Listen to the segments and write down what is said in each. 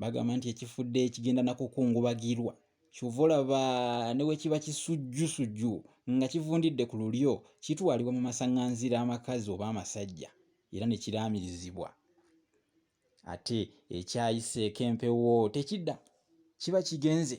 Bagamba nti ekifudde ekigenda nakukungubagirwa kyova olaba newekiba kisujjusujju nga kivundidde ku lulyo kitwalibwa mu masaŋŋanzira amakazi oba amasajja era ne kiraamirizibwa. Ate ekyayiseeko empewo tekidda kiba kigenze.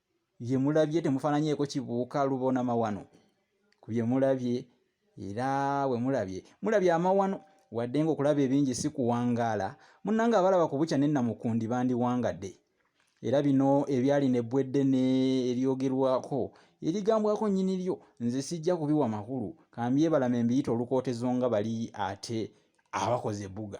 bye mulabye temufaananyeeko kibuuka lubona mawano ku bye mulabye era bwe mulabye mulabye amawano wadde ng'okulaba ebingi si kuwangaala munnanga abalaba ku bukya nennamukundi bandiwangadde era bino ebyali ne bwedde ne eryogerwako erigambwako nnyini lyo nze sijja kubiwa makulu kambyebalama embiyita olukootezo nga bali ate abakoze ebbuga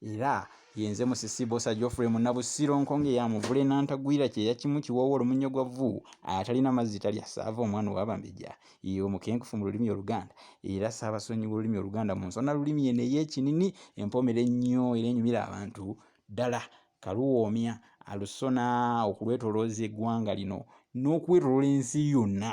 era yenze musisi bosa geoffrey munabusiro nkonge ya muvule nantagwira kyeya kimu kiwoowo olumunyo gwa vvu atalina mazzi talya saava omwana owabambejja ye omukenkufu mu lulimi oluganda era saabasonyi w'olulimi oluganda mu nsona lulimi eno ey'ekinini empomera ennyo era enyumira abantu ddala kaluwoomya alusona okulwetolooza eggwanga lino n'okwetolola ensi yonna